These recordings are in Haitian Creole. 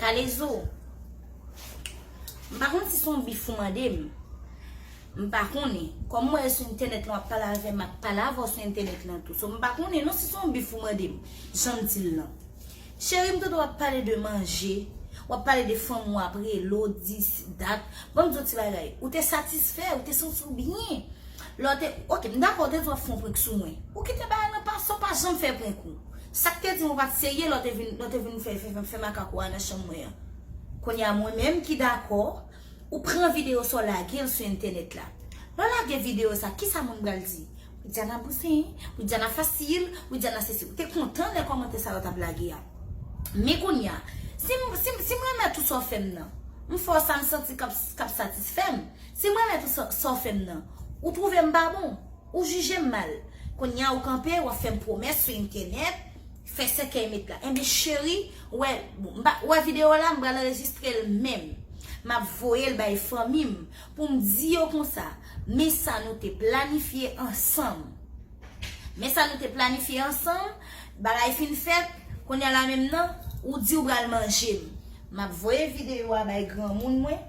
Kalezo, m pa konn si son bif ou mande m. M pa konnen. Kòm m wè sou entènèt lan w ap pale avè m, m ap pale avè w sou entènèt lan tou. So m pa konnen non si son bif ou mande m, jan m di l lan. Cheri m tande w ap pale de manje, w ap pale de fanm ou ap rele w, di si dat. Ban m di w yon ti bagay. Ou te satisfè, ou te santi w byen. Lè w te, ok, m dakò, ou te di w ap fè yon prank sou mwen. Ou kite bagay lan pase, ou pa janm fè prank ou. Sak te dim ou pat serye lè w te vin fè makak ou a nan chanm mwen an. Kounya mwen menm ki dakò ou pran video sa w lage l sou entènèt la. Lè w lage video sa kisa moun pral di? Widiana bouzen, Widiana fasil, Widiana sesi. Ou te kontan lè kòmantè sa yo tap lage a. Men kounya si m remèt ou sa w fè m nan, m fè w sa m santi kap satisfè m. Si m remèt ou sa w fè m nan, ou twouve m pa bon? Ou jije m mal. Kounye a ou kanpe, w ap fè m pwomès sou entènèt, fè sèkèy met la. Enben cheri, ou wè, bon, m pa, ou wè videyo la, m pral anrejistre l menm. M ap voye l bay fanmi m pou m di yo konsa, men sa nou te planifye ansanm. Men sa nou te planifye ansanm, bagay fin fèt, kounye a la menm nan, ou di ou pral manje m. M ap voye videyo a bay granmoun mwen.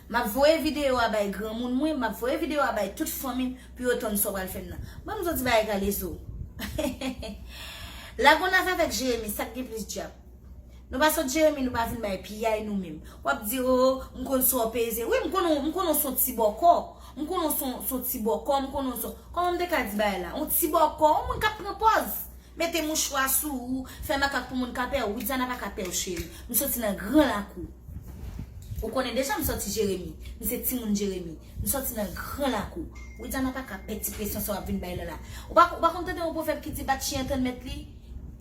Map voye video a bay granmoun mwen map voye video a bay tout fanmim pou yo tann sa w pral fèm nan banm di w ti bagay kalezo lagonave avèk jeremi sak gen plis dyab nou pa sòt jeremi nou pa vin bay piyay nou menm wap di oo m konn sa w peze wi m konn ou m konn ou son ti bòkò m konn ou son ti bòkò m konn ou son kòman m te ka di bagay la on ti bòkò on moun kap pran pòz. Mete mouchwa sou ou, fè makak pou moun ka pè ou, Widiana pa ka pè ou cheri, m soti nan gran lakou, ou konnen deja m soti Jeremi, m se timoun Jeremi, m soti nan gran lakou, Widiana pa ka pè ti presyon sa w ap vin bay la la, ou pa ou pa konn tande yon pwovèb ki di bat chen an tann mèt li,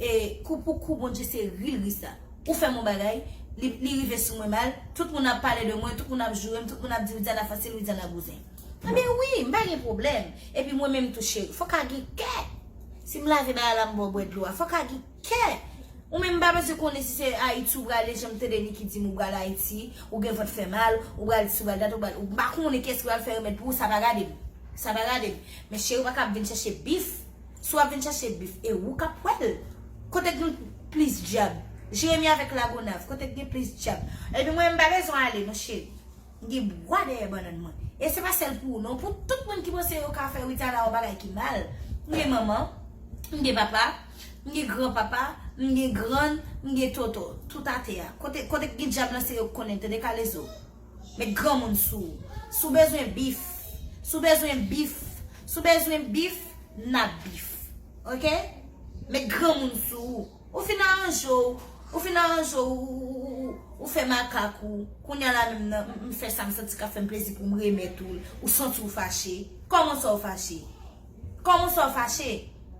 e kou pou kou Bondye se ri l ri sa, ou fè m yon bagay, li li rive sou mwen mal, tout moun ap pale de mwen, tout moun ap joure m, tout moun ap di Widiana fasil, Widiana bouzen. Enben wi, m pa gen pwoblèm, epi mwen menm tou cheri, fò ka gen kè! Sim lage bagay la m baw bwè dlo a fok a gin kè Ou menm m pa bezwen konnen si se ayiti ou prale janm tande Niki dim ou pral ayiti ou gen vant fè mal ou pral disi ou pral dat ou pral m pa konnen kiyès ki pral fè remèd pou ou sa pa gadem sa pa gadem men cheri ou paka ap vin chache bif si wap vin chache bif e ou kap wèl kote k gen plis dyab jeremi avèk lagonav kote k gen plis dyab ebyen mwen m pa bezwen ale non cheri. M gen bwa dèyè bannann mwen. E se pa sèl pou ou non. Pou tout moun ki panse yo ka fè Ritana yon bagay ki mal. M gen manman. M gen papa. M gen gran papa. M gen grann. M gen tonton. Tout atè a. Kote k gen dyab lan se yo k konnen. Tande kalezo. Met granmoun sou ou. Si w bezwen bif. Si w bezwen bif. Si w bezwen bif. N ap bif. Ok? Met granmoun sou ou. Ou fin aranje w, ou fin aranje w, ou fè makak ou, kounya la menm nan, m fè sa m santi k ap fè m plezi pou m remèt ou l, ou santi w fache. Kòman sa w fache? Kòman sa w fache?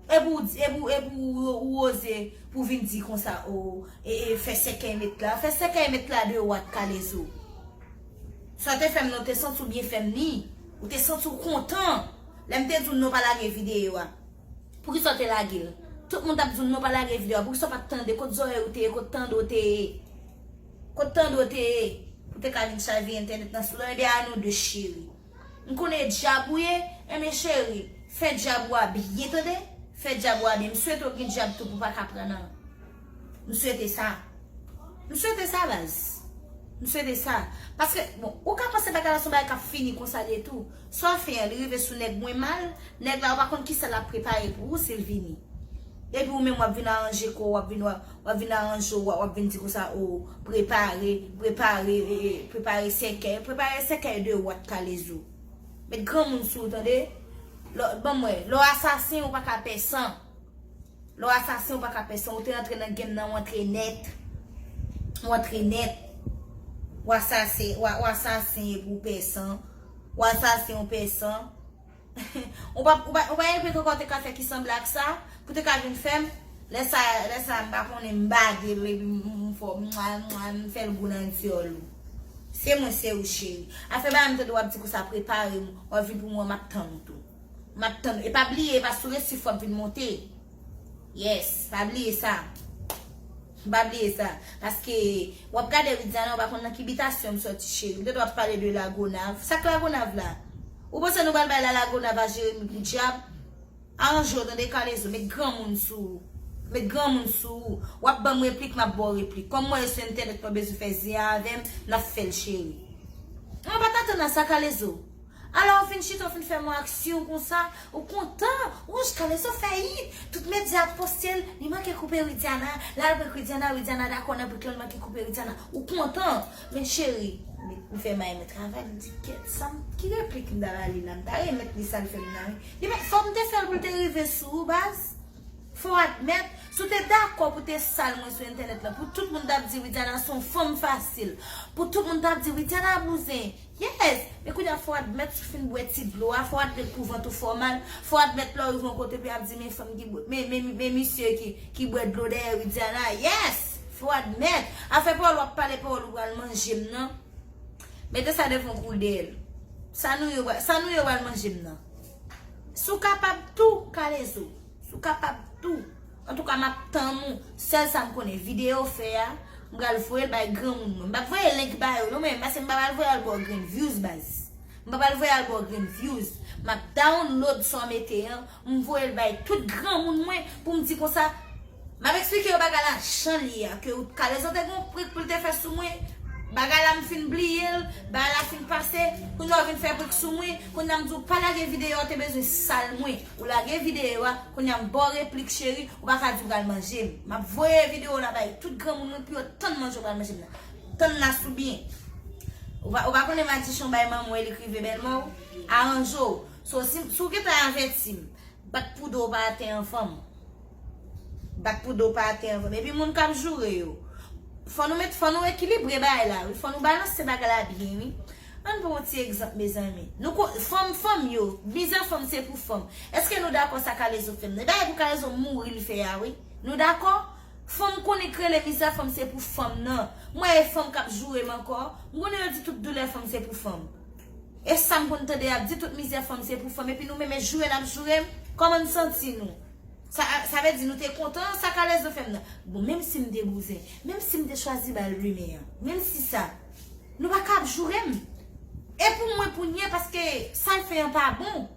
Epi w di, epi w, epi w, ou oze pou w vin di konsa o, e, e, fè sèkèy met la, fè sèkèy met la de ou ak kalezo. Sa w te fè m nan, w te santi w byen fè m ni, ou te santi w kontan lè m te di w non pa lage videyo a. Poukisa w te lage l? Tout moun t ap di w non pa lage video a. Poukisa w pa t tande? Kot zòrèy ou te ye? Kot tande w te ye? Kot tande w te ye? Pou w te ka vin chave entènèt nan sou lò. Enben a nou de cheri. M konnen e dyab ou ye. Enben cheri, fè dyab ou a byen tande. Fè dyab ou a byen. M swete w gen dyab tou pou w pa ka pran nan. M swete sa. M swete sa baz. M swete sa. Paske, bon, ou ka panse bagay la se yon bagay k ap fini konsa de tou. Swa fen an, li rive sou nèg mwen mal, nèg la ou pa konn kisa l ap prepare pou ou si l vini. Epi ou menm w ap vin aranje kò w, w ap vin, w ap vin aranje w, w ap vin di konsa o, prepare, prepare, prepare sèkèy. Prepare sèkèy de ou a t kalezo. Met granmoun sou ou tande. Lò, ban m wè, lè w asasen ou pa ka pè san. Lè w asasen ou pa ka pè san ou te antre nan game nan ou antre nèt ou antre nèt ou asasen ou asasen epi ou pè san ou asasen ou pè san ou pa ou pa gen anpil kòkòt ou te ka fè ki sanble ak sa pou te ka vin fè m lè sa lè sa m pa konnen m bade l epi m fè w mwa mwa m fè l gou nan dyòl ou se mwen se ou cheri afè bagay m tande w ap di konsa prepare m w ap vin pou mwen m ap tann ou tou. Map tann e pa bliye epa sou resif wap vin monte yes pa bliye sa pa bliye sa paske wap gade widiana ou pa konn nan ki bitasyon m soti cheri ou te dwe ap pale de lagonav sak lagonav la ou panse nou pral bay la lagonav a jeremi poudjab aranje w tande kalezo met granmoun sou ou met granmoun sou ou wap banm replik map baw replik kòm m wè yo sou entènèt pa bezwen fè zen avèm nap fèl cheri mwen pat atann a sa kalezo. Ala ou fin chita ou fin fè mwen aksyon konsa ou kontan wouch kalezo fè it tout medya ap postel li manke koupe widiana lal prank widiana widiana dakò nan prank lan li manke koupe widiana ou kontan men cheri ou fè may mwen travay m di gèt sam ki replik m ta ba li la m ta remèt li sal fèm nan wi li menm fòm te fèl poul te rive sou ou baz. Fòw admèt, si w te dakò pou te sal mwen sou entènèt lan, pou tout moun tap di Widiana se yon fanm fasil, pou tout moun tap di Widiana bouzen, yes! Men kounya fòw admèt si w fin bwè ti dlo a, fòw admèt pou vant ou fè w mal, fòw admèt lè w rive yon kote pou yap di men fanm ki bwè, men misye ki bwè dlo dèyè Widiana, yes! Fòw admèt, afè pawòl wap pale pawòl ou pral manje m nan, mete sa devan w kou w deyèl, sa nou ye ou pral manje m nan. Si w kapab tou, kalezo. Si w kapab tou. Antouka m ap tann ou. Sèl sa m konnen, videyo w fè a, m pral voye l bay granmoun mwen. M pa p voye link ba yo non men, pase m pa pral voye al ba w grenn vyouz baz. M pa pral voye al ba w grenn vyouz. M ap download sa w mete an, m voye l bay tout granmoun mwen pou m di konsa. Map esplike yo bagay la janl ye a ke ou t kalezo te gen yon prank poul te fè sou mwen bagay la m fin bliyel bagay la fin pase kounya ou vin fè prank sou mwen kounya m di w pa lage video a te bezwen sal mwen ou lage video a kounya m baw replik cheri ou paka di w pral manje m map voye video la bay tout granmoun mwen pou yo tann manje ou pral manje m nan tann la sou byen ou pa konnen madichon bay manman w e li k rive bèlmè w aranje w so si w gentan avèti m bat pou do w pa atè anfan m. Bat pou do pa ate anvan. Epi moun kap joure yo. Fò nou met, fò nou ekilibre bagay la wi. Fò nou balanse bagay la byen wi. Ann pran yon ti egzanp mezanmi. Nou ko, fanm, fanm yo, mizè fanm se pou fanm. Eske nou dakò sa kalezo fè nan? E bagay pou kalezo mouri li fè a wi. Nou dakò? Fanm konnen k rele mizè fanm se pou fanm nan. Mwen e fanm kap joure m ankò. M konnen yo di tout doulè fanm se pou fanm. E sam konn tande yap di tout mizè fanm se pou fanm. Epi nou menm e joure nap joure m? Kòman n santi nou? Sa vle di nou te kontan sa kalès nan fè m nan. Bon menm si m te bouzen, menm si m te chwazi ba l limen an, menm si sa, nou pa ka ap joure m. E pou mwen pou nye paske sa l fè an pa bon.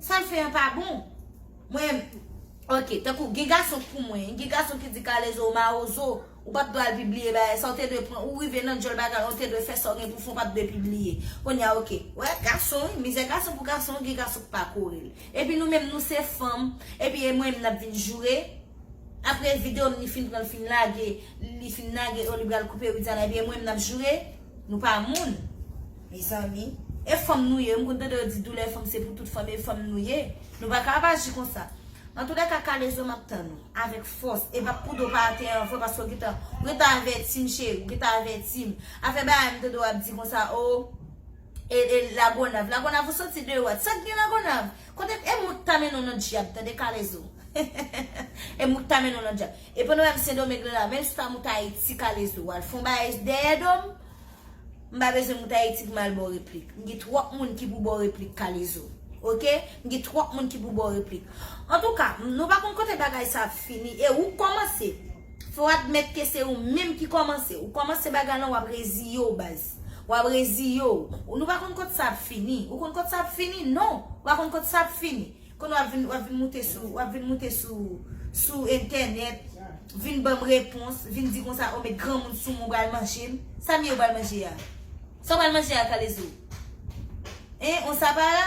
Sa l fè an pa bon. Mwen, ok, tankou gen gason k pou mwen, gen gason ki di kalèz ou mawozo. Ou pat pral pibliye bagay sa ou te dwe pran ou rive nan dyòl bagay lan ou te dwe fè sa ou gen pou fè ou pat dwe pibliye kounya ok wè gason wi mizè gason pou gason gen gason ki pa korel epi nou menm nou se fanm epi e mwen menm nap vin joure aprè video m li fin pranl fin lage li fin lage oh li pral koupe Widiana epi e mwen menm nap joure nou pa moun mezanmi e fanm nou ye m konn tande yo di doulè fanm se pou tout fanm e fanm nou ye nou paka ap aji konsa antoulèka kalezo map tann ou. Avèk fòs. E bat koude w pa atè an vre paske w gentan. Ou gentan avèti m cheri, ou gentan avèti m. Afè bagay m tande w ap di konsa o. E e lagonav. Lagonav ou soti de wòt. Sa k gen lagonav? Kote e moun k ta mennen w nan dyab tande kalezo. E moun k ta mennen w nan dyab. Epi w nan menm sendomeng lan la menm si pa moun k ayiti kalezo. Ou al fon bagay dèyè do m. M pa bezwen moute Ayiti pou m al ba w replik. M gen twòp moun ki pou ba w replik Kalezo. Ok? M gen twòp moun ki pou ba w replik. Antouka, nou pa konn kote bagay sa ap fini. E ou k kòmanse. Fò w admèt ke se ou menm ki kòmanse. Ou kòmanse bagay lan w ap reziye w baz. W ap reziye w. Nou pa konn kot sa ap fini. Ou konn kot sa ap fini? Non! Ou pa konn kot sa ap fini. Kounye a w ap vin moute sou, w ap vin moute sou, sou entènèt, vin ban m repons, vin di konsa, o met granmoun sou mwen, ou pral manje m. Sa m ye ou pral manje a? Sa w pral manje a Kalezo? Hein, on sa pa la?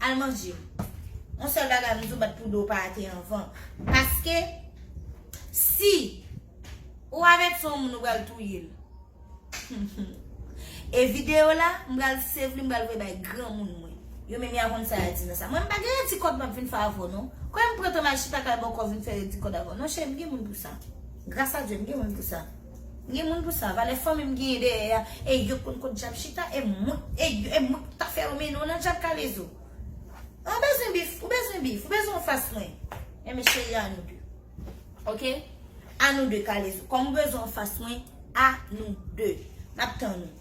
Al manje. On sèl bagay m di w bat pou do w pa ate anvan. Paske, si ou avèti on moun ou pral touye l. E video la m pral save li m pral voye bay granmoun mwen. Yo menm ya konn sa ya di nan sa. Mwen m pa gen redi kòd map vin fè avèw non. Kwen m pran tan mal chita kay bòkò vin fè redi kòd avèw. Non cheri m gen moun pou sa. Gras a Dye m gen moun pou sa. M gen moun pou sa. Valè fanmi m genyen dèyè ya e yo konn kot djab chita e mwen e mwen k ta fè yo mennen w nan djab kalezo. Ou bezwen bif, ou bezwen bif, ou bezwen w fas mwen. Enben cheri a nou 2. Ok a nou 2 kale zo. Kom ou bezwen an fas mwen a nou 2. Map tann ou.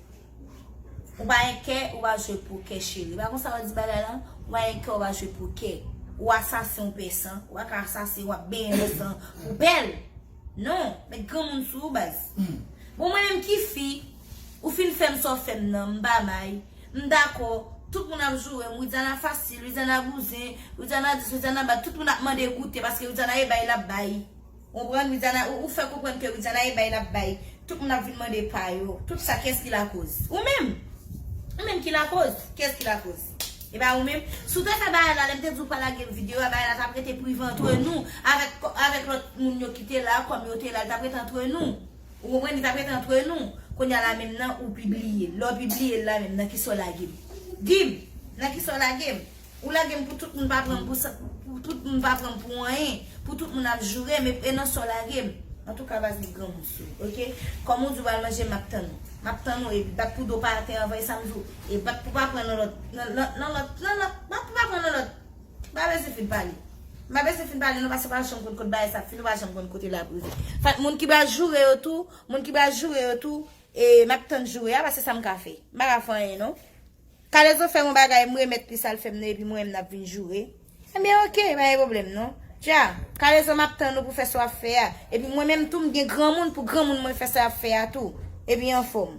Ou pa gen kè ou pa jwe pou kè cheri. Pa konsa yo di bagay lan. Ou pa gen kè ou pa jwe pou kè. Ou asasen ou pè san. Ou pa ka asasen wap benyen san pou pèl. Non. Met granmoun sou ou baz. Bon mwen menm ki fi. Ou fin fèm sa w fèm nan. M pa may. M dakò, tout moun ap joure m, Widiana fasil, Widiana bouzen, Widiana dis, Widiana bat, tout moun ap mande goute paske Widiana e bay lap bay. Ou konprann, Widiana, ou fè konprann ke Widiana e bay lap bay, tout moun ap vin mande pa yo. Tout sa kiyès ki lakoz? Ou menm! Ou menm ki lakoz! Kiyès ki lakoz? E pa ou menm? Si w te fè bagay la, lè m te di w pa lage m videyo a, bagay la tap rete prive antre nou avèk avèk lòt moun yo ki te la, kòm yo te la, li tap rete antre nou. Ou konprann li tap ret antre nou Kounya la menm nan ou pibliye Lè w pibliye l la menm nan kisa w lage m Di m Nan kisa w lage m Ou lage m pou tout moun pa pran m pou sa Pou tout moun pa pran m pou anyen Pou tout moun ap joure m E nan sa w lage m Antouka baz m granmoun sou ou ok Kòm ou di w pral manje m ap tann ou M ap tann ou e bat pou do pa atè anvan e sa m di w E bat pou pa pran nan lòt Nan lòt Nan lòt Nan lòt Bat pou pa pran nan lòt. Mpa bezwen fin pale. Mpa bezwen fin pale non paske ou pa janm konn kot bagay sa ap fini ou pa janm konn kote lap rive. Fat moun ki pral joure yo tou, moun ki pral joure yo tou e map tann joure a paske sa mka fè. Mpa ka fè anyen non. Kalezo fèm yon bagay mremèt li sal fèm nan epi mwen menm nap vin joure. Ebyen ok pa gen pwoblèm non. Dja, Kalezo map tann ou pou fè sa wap fè a epi mwen menm tou mgen granmoun pou granmoun mwen fè sa yap fè a tou epi anfòm.